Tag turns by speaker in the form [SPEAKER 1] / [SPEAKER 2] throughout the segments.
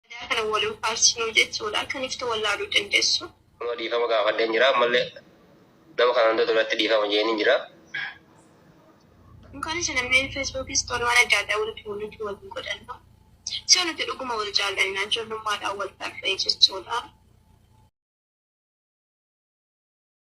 [SPEAKER 1] Aadaa kana wal hin faarsinuu jechuudha. Kan iftu wallaaluu dandeessu. Nama dhiifama
[SPEAKER 2] gaafadheen jira ammallee nama kana hunda duratti dhiifama jeeniin jira.
[SPEAKER 1] Kan isa namni Facebook store waan adda addaa walitti mul'atu wal hin godhannu. So nuti dhuguma wal jaallanna ijoollummaadhaan wal barree jechuudha.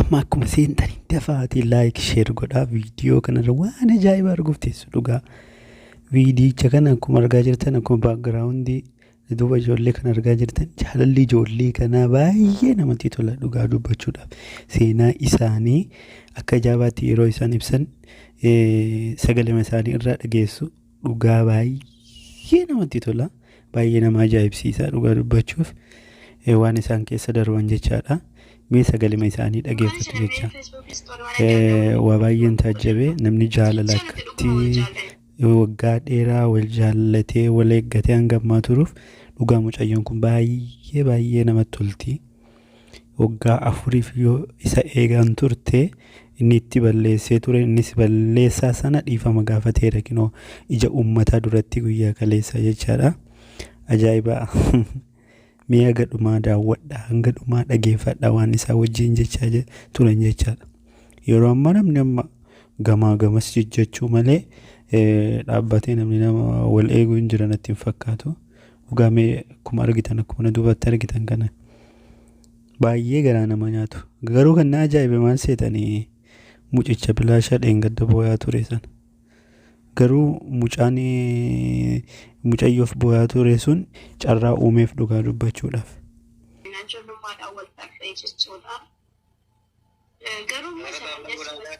[SPEAKER 3] Amma akkuma seentanii dafaatii laayik sheer godhaa viidiyoo kanarra waan ajaa'ibaa arguuf teessu dhugaa. Viidiyicha kana akkuma argaa jirtan akkuma baakgiraawundii duuba ijoollee kana argaa jirtan jaalalli ijoollee kanaa baay'ee namatti tola dhugaa dubbachuudhaaf. Seenaa isaanii akka ajaa'ibaatti yeroo isaan ibsan sagalema isaanii irraa dhageessu. dhugaa baay'ee namatti tola baay'ee nama ajaa'ibsiisa dhugaa dubbachuuf eh, waan isaan keessa darban jechaadha mee sagalima isaanii dhageeffatu jecha Eh, waa baay'een taajjabe namni jaalala akkatti waggaa dheeraa wal jaallatee wal eeggatee hanga ammaa turuuf dhugaa mucayyoon kun baay'ee baay'ee namatti tolti waggaa afuriif yoo isa eegaan turte inni itti balleessee ture innis balleessaa sana dhiifama gaafateera kinoo ija uummataa duratti guyyaa kaleessaa jechaadha ajaa'ibaa mee haga dhumaa daawwadha hanga dhumaa dhageeffadha waan isaa wajjin jechaa je- turan jechaadha yeroo ammaa namni amma gamaa gamas jechuu malee eh, dhaabbatee namni nama wal eeguu hin jiran natti hin fakkaatu Dhugaa mee akkuma argitan akkuma na duubatti argitan kana baay'ee garaa nama nyaatu. Garuu kan na ajaa'ibe maal seetanii mucicha bilaashaa dheengadda booyaa ture sana. Garuu mucaan mucayyoof booyaa ture sun carraa uumeef dhugaa dubbachuudhaaf. Miidhaan ijoollummaadhaan wal dhabdee jechuudha.
[SPEAKER 1] Garuu immoo sana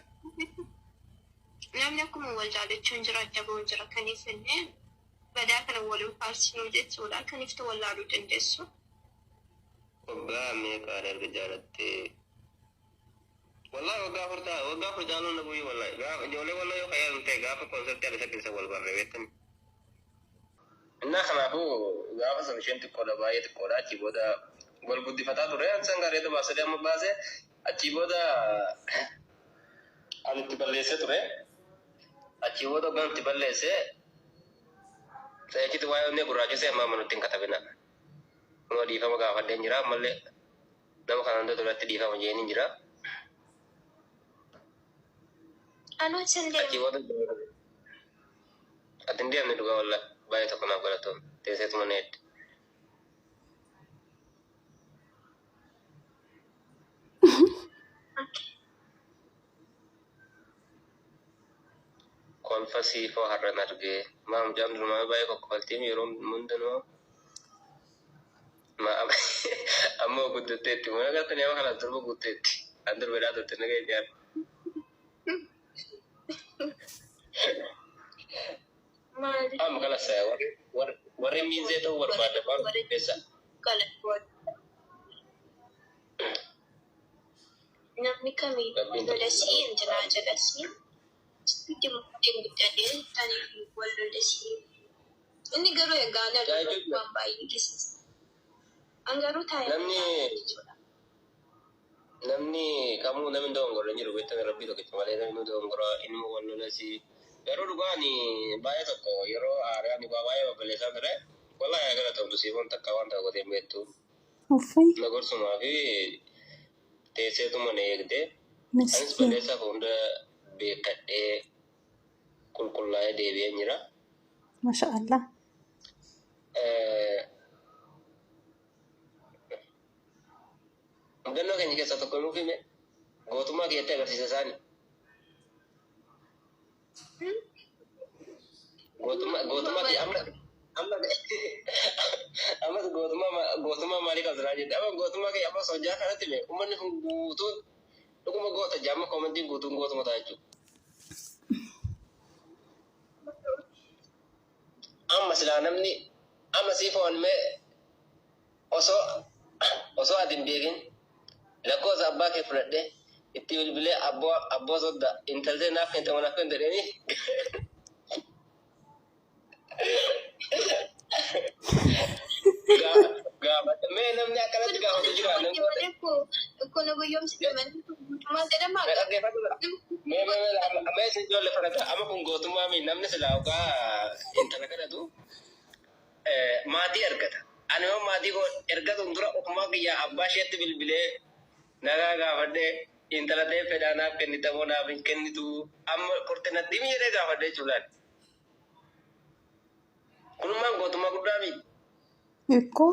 [SPEAKER 1] namni akkuma wal jaalachuun jira adda bahuun jira kan hin badaa kana wolin faarsinuu jechuudha kan iftu wallaaluu dandeessu.
[SPEAKER 2] Waggaa meeqaan erga jaalattee? Wallahi waggaa afur ta'a waggaa afur jaaluun na bu'ii wallahi gaafa ijoollee walloo yoo qayyaadan ta'e gaafa konsertii adda sakkisa wal barre beektani. Innaa kanaafuu gaafa san isheen xiqqoodha baay'ee xiqqoodha achii booda wal guddifataa ture san gaarii adda baasanii amma baase Achii booda ani itti balleessee ture. Achii booda hoggaan itti balleesse xayachitti waa'ee onnee gurraachessee ammaa manutti hin katabina. Kunoo dhiifama gaafadheen jira ammallee nama kana hunda duratti dhiifama jeeniin jira. Anuun sin Achii deemu. booda ati hin deemne dhugaa wallaahi baay'ee tokko naaf galatoom teesseetuma na hedde. kolfa siifoo har'an argee maa mucaan durumaa baay'ee kokkofaltiim yeroo hundumaa maa amma ammoo guddatteetti mana gaafa nama kana durba guutteetti an durba dhaa turte naga ijaar Maali? Amma kala saya warri warri warri miinzee ta'uu barbaadda maal qopheessa?
[SPEAKER 1] Namni kamiin Rabbiin lolesii hin jiraa jedhasii. Itti murtiin bittatee tanii fi wal lolesii. Inni garuu egaa na Yaa ijoollee. waan baay'ee keessatti. An garuu taa'ee. Namni
[SPEAKER 2] Namni kamuu namni hin dogongorre hin jiru beektanii rabbii tokkicha malee namni nu dogongora inuma wal lolasi garuu dhugaa ani baay'ee tokko yeroo aaree ani waa baay'ee babballeessaa ture wallahi haa galatoomtu siifoon takka waan ta'u godhee hin beektu Uffee na gorsumaa fi teesseetuma na eegde anis miskiin. balleessaa koo hunda beekkadhee qulqullaa'ee deebi'een jira. Masha
[SPEAKER 4] Allah. Eh,
[SPEAKER 2] Mudannoo keenya keessaa tokko nuuf hime gootummaa kiyyatti agarsiisa isaani. Gootummaa gootummaa kiyya amma amma ammas gootummaa ma- gootummaa maalii qabsiraa jette amma gootummaa kiyya ammas hojjaa kanatti hime uummanni kun guutuun dhuguma goota jaamma koomantiin guutuun gootuma ta'a jechuudha. Amma silaa namni amma sii foon mee osoo osoo ati hin beekin lakkoosa abbaa kee fudhadhe itti bilbilee abboo abboo sodda intaltee naaf kente manaaf kente dheeni gaafadhe mee namni akkanatti gaafatu jira namni Kun
[SPEAKER 1] guyyomsi Maal jedhama? Na dhaggeeffadhu dha. Mee mee mee amma
[SPEAKER 2] amma isin ijoollee fana ta'a. Amma kun gootummaa mii namni silaa ogaa intala kadhatu eh, maatii ergata. Ani yoo maatii koo ergatuun dura ofumaa kiyyaa abbaa isheetti bilbilee nagaa gaafadhee intala ta'ee fedhaa naaf kennita moo naaf hin kennitu amma qorte natti himi jedhee gaafadhee jechuudha. Kunummaan gootummaa guddaa mii? Ikkoo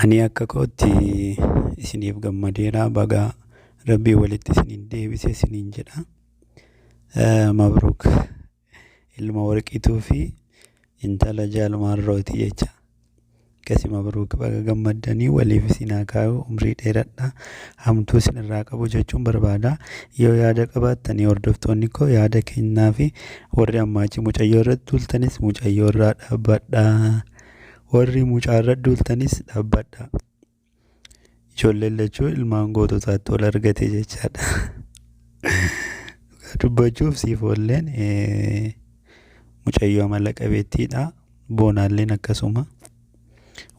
[SPEAKER 2] Ani akka
[SPEAKER 3] kootti isiniif gammadeera baga rabbii walitti isiniin deebise isiniin jedha. Mabruuk ilma warqiituu fi intala jaalmaan rooti jecha. Akkasi mabruuk baga gammaddanii waliif isin haa kaayu umrii dheeradha hamtuu isin irraa qabu jechuun barbaada. Yoo yaada qabaattanii hordoftoonni koo yaada kennaa fi warri ammaachi mucayyoo irratti tuultanis mucayyoo irraa dhaabbadhaa. Warri mucaarra duultanis dhaabbadhaa. Ijoolleen lachuu ilmaan goototaatti ol argate jechaadha. Dhugaa dubbachuuf siif oolleen eh, mucayyoo amala qabeettiidha. Boonaalleen akkasuma.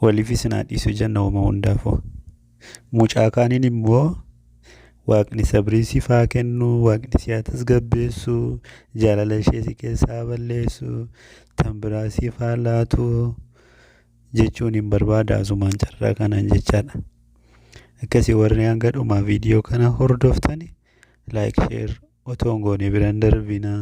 [SPEAKER 3] Waliif isin haa dhiisu jenna homa hundaafuu. Mucaa kaaniin immoo waaqni sabrii siif haa kennu, waaqni si haa tasgabbeessu, jaalala ishee si keessaa haa balleessu, tan biraa siif haa laatu jechuun hin barbaada asumaan carraa kanaan jechaadha. Akkasii warri hanga dhumaa viidiyoo kana hordoftani like share otoo hin goone biraan darbinaa.